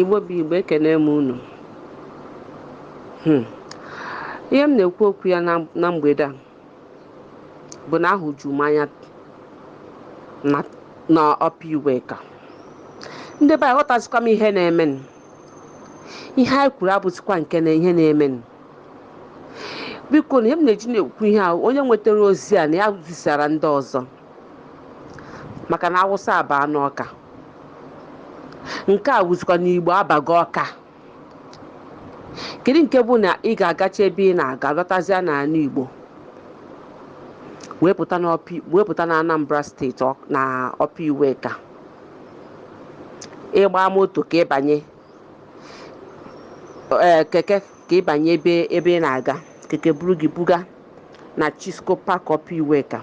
igbo bụ igbo ekene m unu hmm. ihe m na-ekwu okwu ya na mgbede a bụ na ahụju m anya na Upper Iweka ndị be aghọtazikwa m ihe na-emenụ ihe anyị kwuru abụzikwa nke na ihe na-emenụ bikonụ ihe m na-eji na-ekwu ihe a onye nwetara ozi a na ya zisara ndị ọzọ maka na awụsa abaa n'ọka nke a wụzikwa na igbo abago ọka kedu nke bụ na ị ga-agacha ebe ị na-aga lọtazịa n'ala igbo wee pụta n'ọpi wee pụta na anambra steeti ọ- na Upper Iweka ị gba moto ka ị banye ee keke ka ị banye ebe ebe ị na-aga keke buru gị buga na Chisco Park Upper Iweka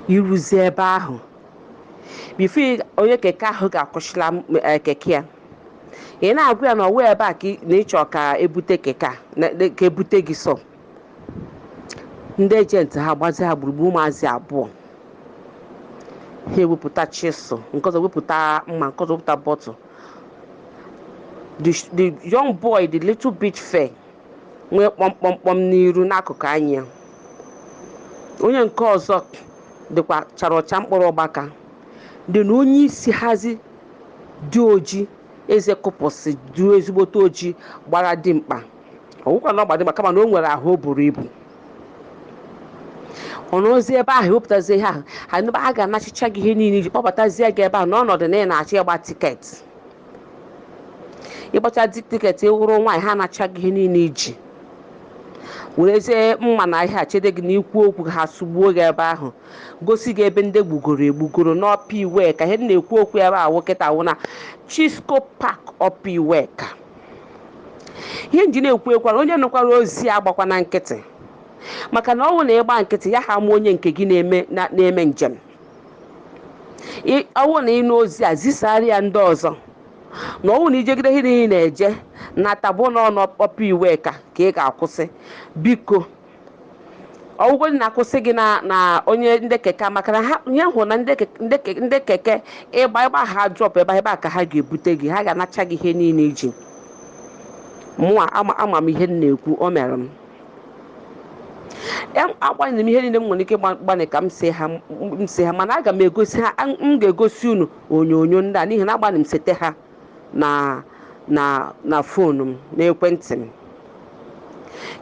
i ruzie ebe ahụ before onye keke ahụ ga-akwụsịla keke ya ị na-agwa ya na ọ wụ ebe a na ị chọ ka e bute keke a ka e bute gị so ndị agent ha gbazi ha gburugburu ụmụazị abụọ ha ewepụta chisel nke ọzọ wepụta mma nke ọzọ wepụta bottle the young boy the little bit fair nwee kpọmkpọmkpọm n'iru n'akụkụ anya ya onye nke ọzọ dịkwa chara ọcha mkpụrụ ọgbaka then onye isi hazi dị oji eze kụpụsị dị ezigbote oji gbara dimkpa ọ wụkwa na ọ gba dimkpa kama na o nwere ahụ o buru ibu ọ nọzie ebe ahụ ewepụtazie ihe ahụ ha n'ebe a ga-anachicha gị ihe niile i ji kpọbatazie gị ebe ahụ n'ọnọdụ na ị na-achọ ịgba tiketi ị gbacha the tiketi ị wụrụ nwaanyị ha anacha gị ihe niile i ji werezie mma na ihe a chede gị na i kwuo okwu ha sụgbuo gị ebe ahụ gosi gị ebe ndị e gbugoro egbugoro n'Upper Iweka ihe m na-ekwu okwu ebe ọ wụ kịta wụ na chisco park Upper Iweka ihe m ji na-ekwu ekwara onye nụkwara ozi agbakwana nkịtị maka na ọ wụ na ị gba nkịtị ya ha ma onye nke gị na-eme njem Ị- ọ wụ na ị nụ ozi a zisara ya ndị ọzọ na ọ wụ na i jegide ihe niile ị na-eje nata bụ na ọ na Upper Iweka ka ị ga-akwụsị biko ọ wụgodi na a kwụsị gị na na onye ndị keke maka na ha ya hụ na ndị keke- ndị ke- ndị keke ị gba ị gba ha drop ebe a, ebe a ka ha ga-ebute gị ha ga-anacha gị ihe niile i ji mụa ama ama m ihe m na-ekwu o mere m Em- agbanị m ihe niile m nwere ike ịgba- gbanị ka m see ha m- m see ha mana aga m egosi ha an- m ga-egosi unu onyonyo ndị a n'ihi na agbanị m sete ha na na na fonu m n'ekwentị m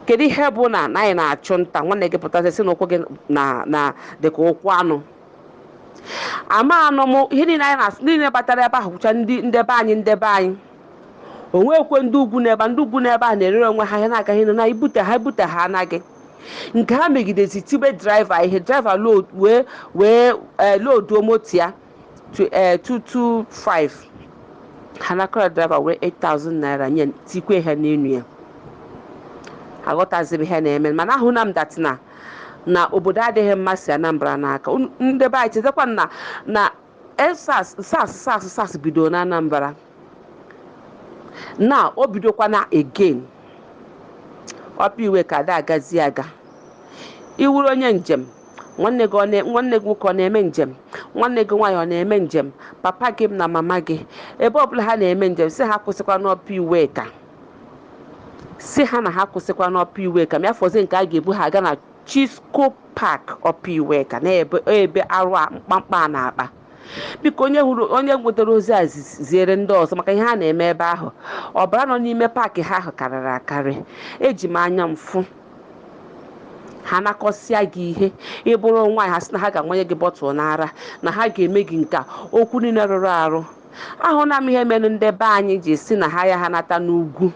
kedu ihe bụ na na anyị na-achụ nta nwanne gị pụtasị si na ụkwụ gị na na dịka ụkwụ anụ ama anụ m ihe niile anyị na-asụ niile batara ebe ahụ bụcha ndị ndị be anyị ndị be anyị o nweekwe ndị ugwu n'ebe a ndị ugwu n'ebe a na-erere onwe ha ihe na-aga ihe na ibute ha ibute ha anaghị nke ha megidezi tibe draiva ihe draiva load wee wee ee loduo moto ya to ee 225 ha nakọrọ draiva were 8000 naira nye tikwe ha n'enu ya aghọtazibe ihe na-eme mana ahụna m that na na obodo adịghị mma si anambra n'aka Unu- ndị be anyị chetakwa na na SARS SARS SARS SARS bidoro na Anambra na o bidokwana again Upper Iweka ada agazi aga ị wụrụ onye njem nwanne gị ọ na- nwanne gị nwoke ọ na-eme njem nwanne gị nwaanyị ọ na-eme njem papa gị na mama gị ebe ọbụla ha na-eme njem sị ha akwụsịkwana Upper Iweka sị ha na ha akwụsịkwana Upper Iweka ma ya fọzi nke a ga-ebu ha aga na Chisco Park Upper Iweka n'ebe ebe arụ a mkpamkpa a na-akpa biko onye hụrụ onye nwetara ozi a zi- ziere ndị ọzọ maka ihe ha na-eme ebe ahụ ọbara nọ n'ime paakị ha ahụ karịrị akarị eji m anya m fụ ha nakọsịa gị ihe ị bụrụ nwaanyị ha sị na ha ga-amanye gị bọtụl n'ara na ha ga-eme gị nke a okwu niile rụrụ arụ ahụna m ihe mere ndị be anyị ji si na ha ya ha nata n'ugwu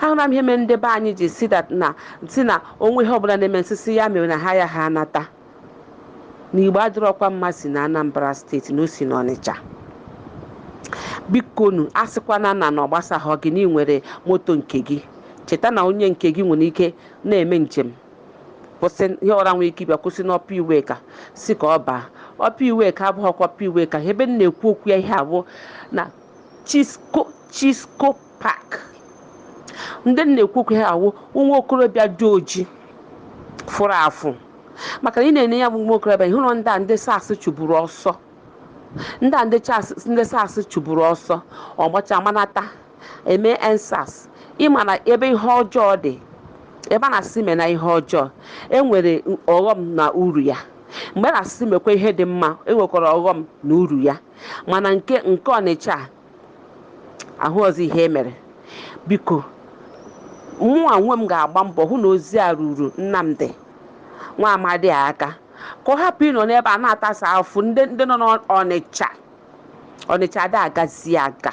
ahụna m ihe mere ndị be anyị ji si that na si na o nwe ihe ọbụla na-eme nsisi ya mere na ha ya ha nata na igbo adịrọkwa mma si na anambra steeti na o si n'ọnịcha bikonu asịkwana na na ọ gbasaghọ gị na ị nwere moto nke gị cheta na onye nke gị nwere ike na-eme njem kwụsị ihe ọra nwere ike ịbịa kwụsị n'Upper Iweka si ka ọ baa Upper Iweka abụghịkwa Upper Iweka ebe m na-ekwu okwu ya ihe a bụ na Chisco Chisco Park ndị m na-ekwu okwu ya wụ nwa okorobịa dị oji fụrụ afụ maka na ị na-ene ya bụ nwa okorobịa ị hụrụ ndị a ndị SARS chụburu ọsọ ndị a ndị SARS chụburu ọsọ ọ gbacha manata eme EndSARS ị ma na ebe ihe ọjọọ dị ebe a na-asị mena ihe ọjọọ e nwere ọghọm na uru ya mgbe a na-asị mekwa ihe dị mma e nwekwara ọghọm na uru ya mana nke nke ọnịcha a, ahụ ọzọ ihe e mere biko mụnwa onwe m ga-agba mbọ hụ na ozi a ruru Nnamdi nwa amadi a aka ka ọ hapụ ịnọ n'ebe a na-atasa afụ ndị ndị nọ n'ọnịcha ọnịcha ada agazi aga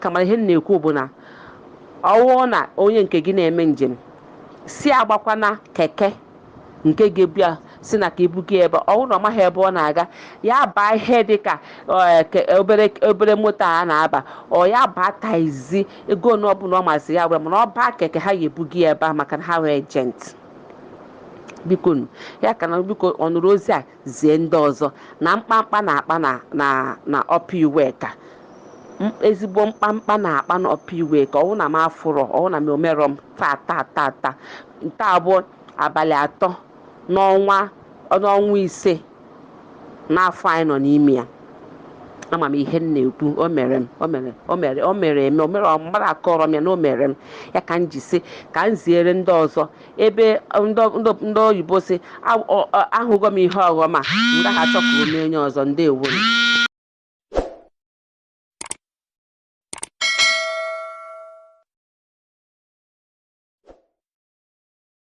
kama ihe m na-ekwu bụ na ọwụọ na onye nke gị na-eme njem sị agbakwana keke nke ga-ebu ya sị na ka ibuga ebe ọwụ na ọ maghị ebe ọ na-aga ya baa ihe dị ka eh, ke- obere obere moto a na-aba ọ ya baa taxi ego ole ọbụla ọ masị ya were mana ọ baa keke ha ya-ebuga ya ebe ahụ maka na ha nwee agent biko nu ya ka na biko ọ nụrụ ozi a zie ndị ọzọ na mkpamkpa na-akpa na na na Upper Iweka m- ezigbo mkpamkpa na-akpa na Upper Iweka ọwụ na m afụrọ ọwụ na m o merọ m taa taa taa taa nke bụ abalị atọ n'ọnwa n'ọnwa ise n'afọ anyị nọ n'ime ya ama m ihe m na-ekwu o mere m o mere o mere o mere eme o mere ọ mmadụ akọrọ m ya na o mere m ya ka m ji sị ka m ziere ndị ọzọ ebe ndị oyibo sị ahụgo m ihe ọghọm a m gaghị achọ ka o mee onye ọzọ ndewo